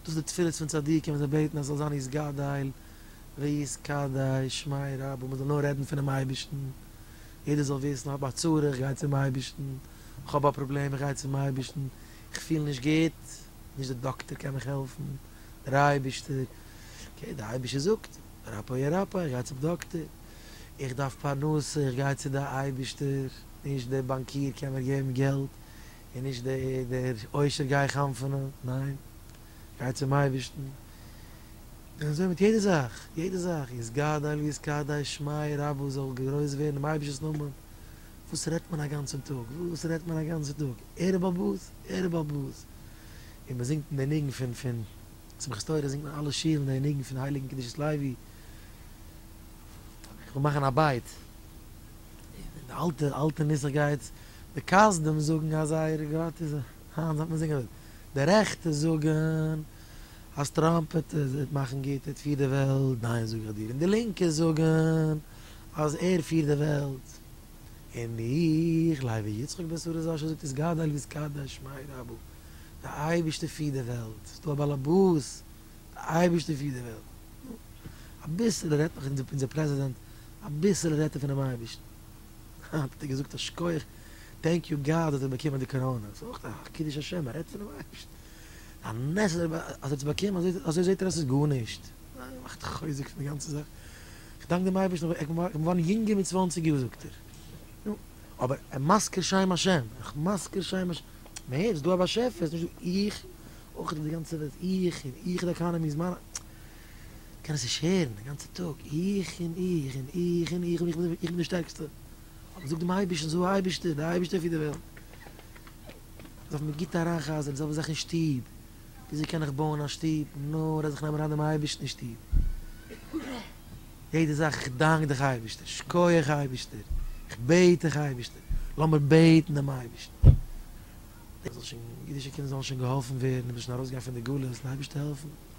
דאס די תפילות פון צדיקים ווען זיי בעטן אז עס זאל זיין יתגדל ויתקדש שמי' רבא, מען זאל נאר רעדן פונעם אייבערשטן, יעדער זאל וויסן איך האב א צרה איך גיי צום אייבערשטן, איך האב א פראבלעם איך גיי צום אייבערשטן, איך פיל נישט גוט, נישט די דאקטער קען מיך העלפן, דער אייבערשטער, אקעי דער אייבערשטער זאגט רפא ירפא איך גיי צום דאקטער, איך דארף פרנסה איך גיי צו די אייבערשטער, נישט דער באנקיר קען מיר געבן געלט, איז נישט דער עושר גיי איך האמפענען, ניין, גיי צום אייבערשטן, און אזוי מיט יעדע זאך, יעדע זאך, יתגדל ויתקדש שמי' רבו, זאל גרויס ווערן דעם אייבערשטנ'ס נאמען, וואס רעדט מען אגאנצן טאג, וואס רעדט מען אגאנצן טאג, ערב הבית, ערב הבית, און מען זינגט דעם ניגון פון פון שמחת תורה זינגט מען אלע שיעורים דעם ניגון פון הייליגן קדושת לוי, איך וויל מאכן א בית. די אלטע אלטע נוסח גייט די כסדים זאגן אז זייער גאט איז היינט זאל מען זינגען אזוי די רעכטע זאגן אז טראמפ וועט מאכן גוט ער וועט פירן די וועלט דיין זאג איך דיר און די לינקע זאגן אז ער פירט די וועלט און איך לייבי יצחק בן שרה זשע זאגט איז גדול איז קדוש שמיה רבא די אייבערשטער פירט די וועלט ס'דא א באלעבאס אייבערשטער פירט די וועלט, נו, אביסעלע רעדט נאך אונזער פרעזידענט, אביסעלע רעדט ער פונעם אייבערשטן, אה, האט ער געזאגט א שכח, טענק יו גאד האט ער באקומען די קאראנע, ס'איז אויך א קידוש השם, ער רעדט פונעם אייבערשטן, א נס אז ער האט עס באקומען, אזוי זעט ער אז ס'איז גארנישט, אה, ער מאכט חוזק פון די גאנצע זאך, איך דאנק דעם אייבערשטן איך בין געווארן יונגער מיט צוואנציג יאר זאגט ער, נו, אבער ער מזכיר שם השם, איך מזכיר שם השם, מער, ס'איז דא א באשעפער, ס'איז נישט דא איך, אויך איז די גאנצע וועלט איך און איך, די עקאנעמי איז מיין, כ'קען עס נישט הערן, די גאנצע טאג איך און איך און איך און איך, איך בין די שטערקסטע, אבער איך זאג דעם אייבערשטן, זאג אייבערשטער, די אייבערשטער פירט די וועלט, דארף מען גוט אריינ'חזר'ן די זעלבע זאך אין שטוב, וויאזוי קען איך בויען א שטוב, נאר אז איך נעם אריין דעם אייבערשטן אין שטוב, יעדע זאך, איך דאנק דיך אייבערשטער, שקויעך אייבערשטער, איך בעט דיך אייבערשטער, לאמיר בעטן דעם אייבערשטן. איך זאל שוין, אידישע קינדער זאלן שוין געהאלפן ווערן, מיר זאלן שוין ארויסגיין פון די גלות, און אייבערשטער העלפן.